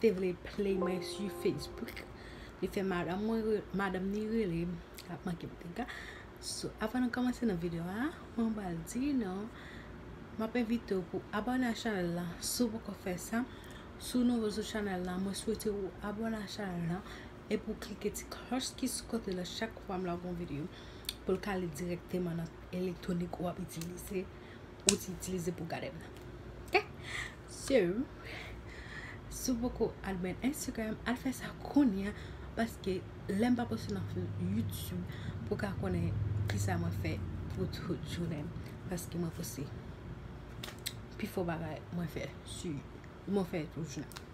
te vle play mwen su facebook li fè madam mwen madam ni rele m lap manke m dega so avan nou komanse nan video a mwen bal di nou map envite ou pou abone a chanel la sou poko fè sa sou nouvo sou chanel la mwen swete ou abone a chanel la e pou klike ti kloch ki sou kote la chak fwa m lagon video pou l kale direkteman nan elektronik ou ap itilize Ou te itilize pou gade m nan. Ok So Si w poko al mwen Instagram al fè sa kounye a paske lè m pa poste nan YouTube pou w ka konnen kisa mwen fè pou tout jounen m paske mwen poste pifò bagay mwen fè sou mwen fè tout jounen m.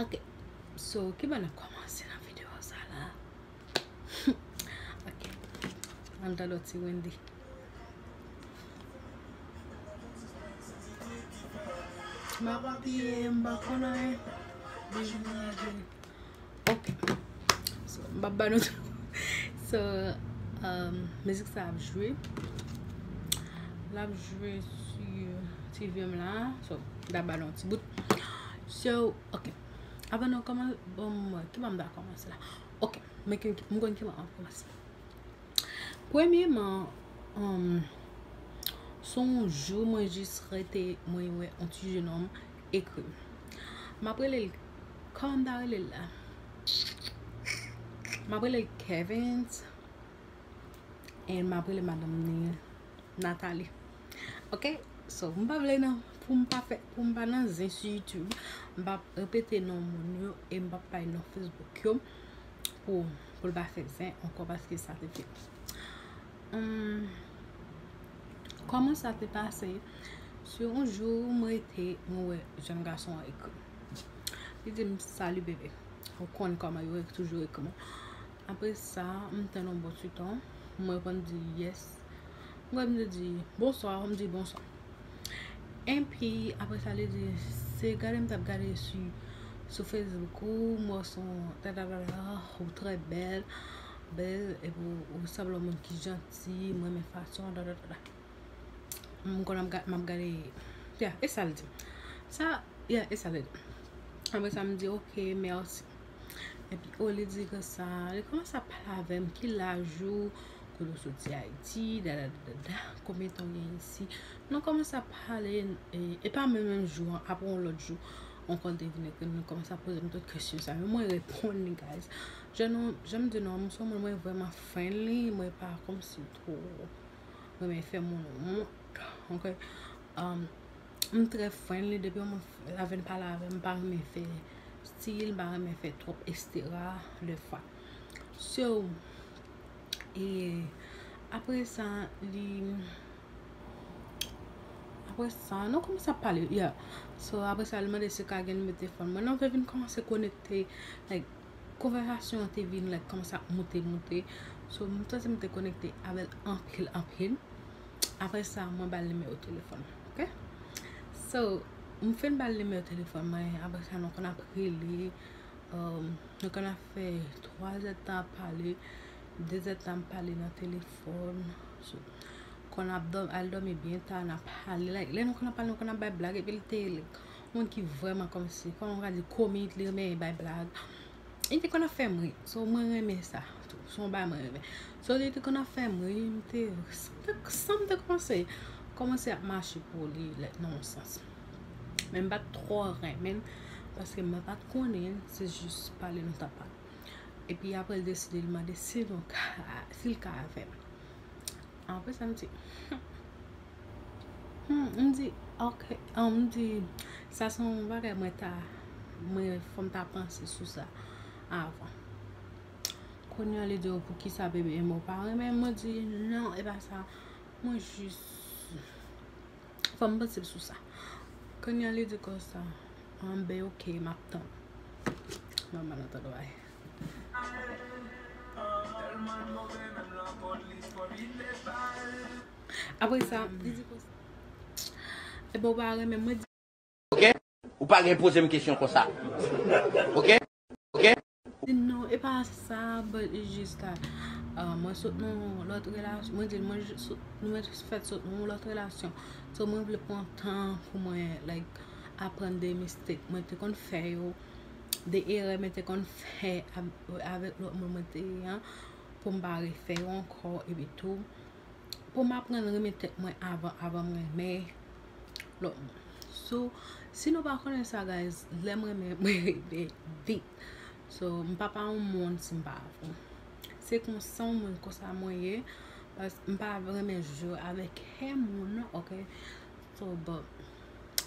Ok So kibo n ap kòmanse nan videyo sa la. An ta do ti Wendy. Ma pa piye, m pa konn anyen. Bouch mwen an jen. Ok. So, m pa ba nou tou. So, um, mizik sa ap jwe. L ap jwe si ti vyem la. So, m ta ba nou ti bout. So, ok. Avan nou koman, bon, ki ban m da komanse la. Ok, mwen konn ki mwen ap koumanse. Premyeman, son jou mwen jis rete mwen wè yon ti jenom ekri. M ap rele l, kòman m ta rele l la? M ap rele l Kevens, e m ap rele madanm li Nathalie. Ok so m pa vle nan pou m pa fè pou m pa nan zen sou youtube m pa repete non moun yo e m pa pale non facebook yo pou l pa fè zen ankò paske sa te fèt humm kòman sa te pase se yon jou m rete m wè jenn gason an ekri li di m salut bébé ou konn kòman yo toujou ekri apre sa m tann yon bon ti tan m reponn di yes Mwen di bonswa, ou di bonswa. Enpi, apre sa li di, se gade m t ap gade sou Facebook ou, m wè w se yon tatatatatata, ou trè bèl, bèl, epi ou sanble yon moun ki janti, m renmen fason w, tatatata. M konn ap gade, m ap gade, ya, e sa l di m. Sa, ya, e sa l di m. Apre sa m di, ok, mèsi. Epi, o li di konsa, li kòmanse ap pale avè m, ki laj ou? kote ou soti ayiti dadadadada konbyen tan ou gen isi nou komanse ap pale e pa menm menm jou an aprè yon lòt jou ankò l te vin ekri m li komanse ap poze m tout kesyon sa yo mwen reponn li guys jan nou jan m di nou an m se yon moun mwen vrèman friendly mwen pa kòmsi m twò renmen fè moun wont ok m trè friendly depi yon moun la vin pale avè m m pa renmen fè stil m pa renmen fè twòp estera lè fwa so e apre sa li apre sa nou kòmanse ap pale ya so apre sa li mande si ka gen nimewo telefòn mwen nou te vin kòmanse konekte like konvèsasyon an te vin like kòmanse ap moute moute so m santi m te konekte avè l anpil anpil apre sa mwen ba l nimewo telefòn mwen ok so m fin ba l nimewo telefòn mwen apre sa nou konn ap rele Mwen konn ap fè 3 zè tan ap pale, 2 zè tan ap pale nan telefòn. Konn ap dòmi, al dòmi byen ta, nan pale. Like, lè nou konn ap pale, nou konn ap bay blag. Epi li te yon moun ki vreman kòmsi, kòman mwen ka di, komik, li renmen bay blag. Li te konn ap fè m ri. So mwen renmen sa. Se yon bagay mwen renmen. So li te konn ap fè m ri, m te, san m te panse, kòmanse ap mache pou li, like nan yon sans. Men m pat twò renmen paske mwen pat konnen l se jis pale nou tap pale. Epi apre l deside li mande si nou ka si l ka avè m. Apre sa m di m di ok an m di sa se yon bagay mwen ta mwen fò m ta panse sou sa avan. Kounya li di w poukisa bebe m ou pa renmen l mwen di non e pa sa mwen jis. Fòm panse sou sa. Konya li di konsa. An ben ok map tann. Mwen mal antann wè. Apresa li di konsa. Ebon ou pa renmen mwen di. ok ou pa gen pozem kesyon konsa ok ok. Non e pa sa but e jis ke mwen sot nan yon lot relasyon mwen di mwen jis fèt sot nan yon lot relasyon so mwen vle pran tan pou mwen like aprann de mistake mwen te konn fè yo de erè mwen te konn fè avèk lot moun mwen te ye an pou m pa refè yo ankò epi tou pou m aprann renmen tèt mwen avan mwen renmen lòt moun. So, si nou pa konnen sa guys, lèm renmen mwen renmen vit. So, m pa pa yon moun si m pa avè w. Se konsa w menm konsa mwen ye. Pas m pa renmen jwe avèk kè moun nan ok. So, but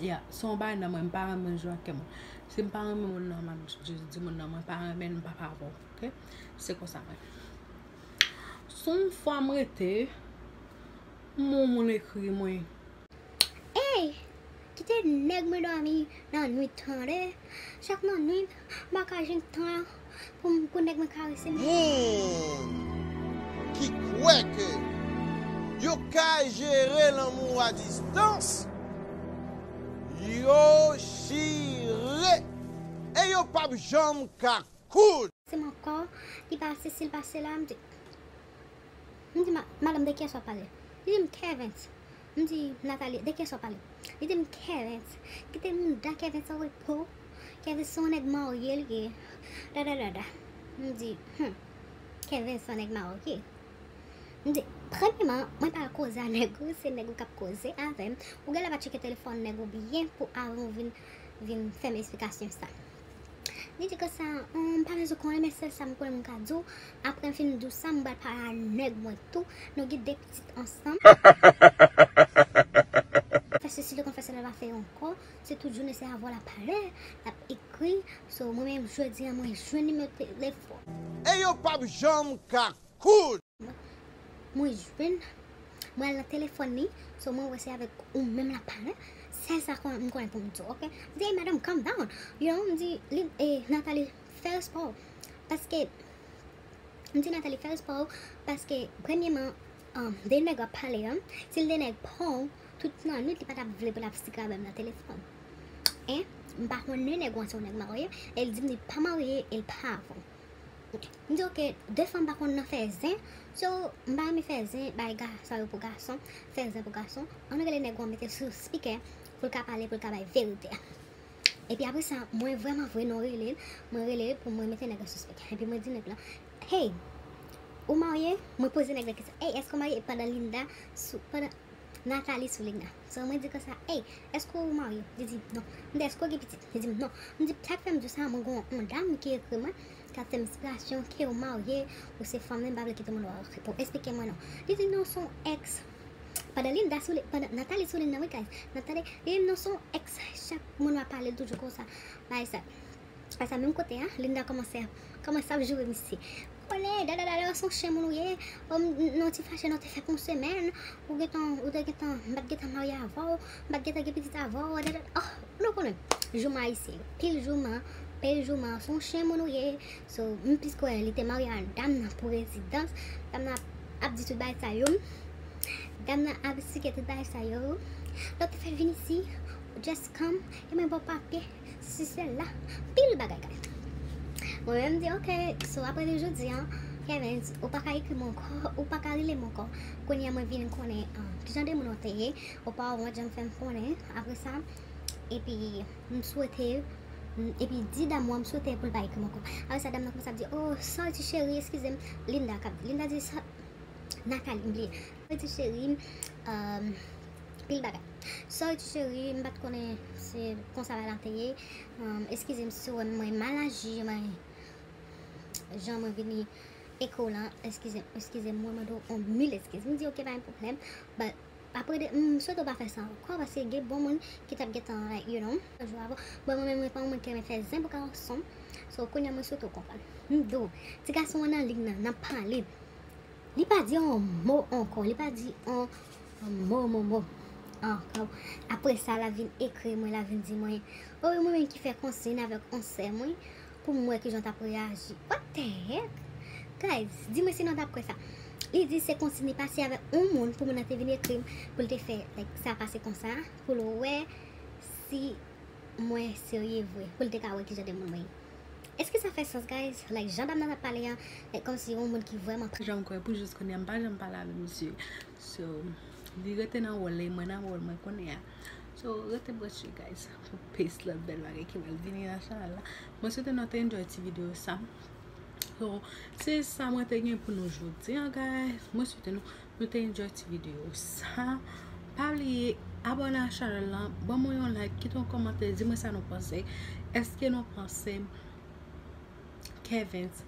yeah, se yon bagay nan mwen, m pa renmen jwe ak kè moun. Si m pa renmen moun nan, m ap just di moun nan mwen pa renmen l, m pa pa avè w ok. Se konsa mwen. Son fwa m rete. M'en moun ekri mwen. Ey! Kite nèg mwen dòmi nan nwit tande, chak nan nwit mwen ka jwenn tan an pou nèg mwen karese m. Moun ki kwè ke yo ka jere lanmou a distans, yo chire e yo pap janm ka koud. Se m ankò ki pase si l pase la m di. M di, Madanm, de kiyès w ap pale? Li di m, Kervens. M di, Nathalie, de kiyès w ap pale? Li di m, Kervens. Kite mouda Kervens an repo. Kervens se yon nèg marye li ye. Dadadada. M di, Hum! Kervens se yon nèg marye. M di, Premyeman, mwen pa al koze a nèg ou, se nèg ou k ap koze avè m. Ou gen lè pa tcheke telefòn nèg ou byen pou avan ou vin fè m esplikasyon sa. Li di konsa, Humm, m pa bezwen konnen men sèl sa m kwè m ka di w, aprè m fin di w sa, m pral pale a nèg mwen tou, nou gen 2 pitit ansanm, l fè sesi, l konn fè sèl, l pa fè ankò, se tout jounen se avò l ap pale, l ap ekri, so mwen menm jodi an mwen jwenn nimewo telefòn. E yo pap janm ka koud. Mwen jwenn Mwen al nan telefòn li So mwen wè se avèk ou menm lap pale Sèl sa kon m konnen pou m di w ok M di ey madam calm down You know m di li e Nathalie fè respè w Paske M di Nathalie fè respè w Paske premyeman An de nèg wap pale an Si l te nèg pa w Tout nan nwit li pa tap vle pou l ap sik avè m nan telefòn En M pa konnen nèg ou an se yon nèg marye E l di m li pa marye e l pa avè w M di ok de fanm pa konn nan fè zen so m pa renmen fè zen bay gason yo pou gason fè zen pou gason an nou rele nèg wan mete sou spikè pou l ka pale pou l ka bay verite a epi apre sa mwen vrèman vre non rele l mwen rele pou mwen mete nèg la sou spikè epi mwen di nèg la hey ou marye mwen poze nèg la kesyon hey èske ou marye pandan Linda sou pandan Nathalie sou Linda. Sè mwen di konsa, Ey, èske ou marye? Li di, Non. M di, Èske ou gen pitit? Li di m, Non. M di, Sa k fè m di w sa, mwen gen yon dam ki ekri mwen, k ap fè m enspirasyon, ke ou marye, ou se fanm li, m pa vle kite moun wè w. Pou esplike mwen non. Li di, Non, se yon èks. Pandan Linda sou li, pandan Nathalie sou li nan, wi guys, nan tande, li di m, Non, se yon èks, chak moun m ap pale l toujou konsa, bay sa. Aprè sa menm kote a Linda kòmanse ap kòmanse ap joure misye Kole dadadada ou son chen moun ou ye O m nan ti fache nou te fè pou yon semèn Ou gentan ou te gentan m pa t gentan marye avè w M pa t gentan gen pitit avè w dadada Oh ou nou konnen jouman ayisyen yo pil jouman Pil jouman ou son chen moun ou ye So m plis kwè li te marye ak dam nan pou rezidans Dam nan ap di tout bagay sa yo Dam nan ap esplike tout bagay sa yo Lè w te fè vin isi Just come e mwen ba w papye Si se la anpil bagay ka fèt. Mwen menm m di ok so aprè de jodi an Kevens ou pa ka ekri m ankò ou pa ka rele m ankò kounye a mwen vin konnen ki jan de moun ou te ye ou pa wont jan m fè m konnen aprè sa epi m swete epi di dam wan m swete pou l pa ekri m ankò aprè sa dam nan kòmanse ap di oh sa w di cheri eskize m Linda k ap di Linda di sa Nathalie m bliye sa w di cheri m Pil bagay. Sorry tu cherie, m pat konnen se konsa bagay la te ye. Eskize m si w wè m mwen mal aji, mwen jan mwen vini eko lan, eskize m, eskize m, mwen mande w on mil eskiz. M di ok pa gen pwoblèm, but aprè de, m swete w pa fè sa ankò paske gen bon moun ki tap gentan like you know. Jou avan, bon mwen menm mwen pa yon moun ki renmen fè zen pou gason, so kounya mwen swete w konprann. M di w, ti gason an nan liy nan, nan pale, li pa di on mo ankò, li pa di on Anmò Momo ankò apre sa la vin ekri mwen la vin di mwen o wi mwen menm ki fè konsign avèk on sè mwen pou m wè kijan w tap reyaji what the heck guys di mwen si nou daprè sa li di se konsign li pase avèk on moun pou moun nan te vin ekri m pou l te fè like sa pase konsa pou l wè si mwen serye vre pou l te ka wè kijan de moun mwen ye. Eske sa fè sans guys like jan dam nan ap pale an like kòmsi yon moun ki vrèman pa janm kwè pou jis kounya m pa janm pale avè misye so li rete nan wòl li mwen nan wòl mwen kounya so rete branche guys pou plis lòt bèl bagay ki pral vini nan chanèl la mwen swete nou te enjoy ti video sa so se sa mwen te gen pou nou jodi an guys mwen swete nou Nou te enjoy ti video sa. Pa bliye abone a chanel lan. Ban mwen yon like. Kite yon komante. Di mwen sa nou panse. Eske nou panse Kevens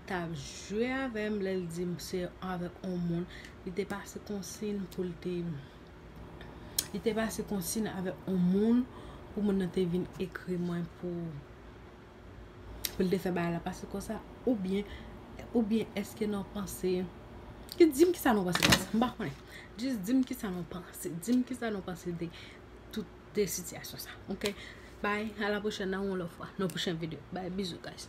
ta jwe avèm lè l di m se avèk yon moun. Li te pase konsin pou l te Li te pase konsin avèk yon moun pou moun nan te vin ekri mwen pou pou l te fè bagay la pase konsa oubyen oubyen eske nou panse ki di m kisa nou panse de sa m pa konnen jis di m kisa nou panse di m kisa nou panse de tout de sitiyasyon sa ok bay a la pwochèn nan yon lòt fwa nan yon pwochèn videyo bay bizou guys.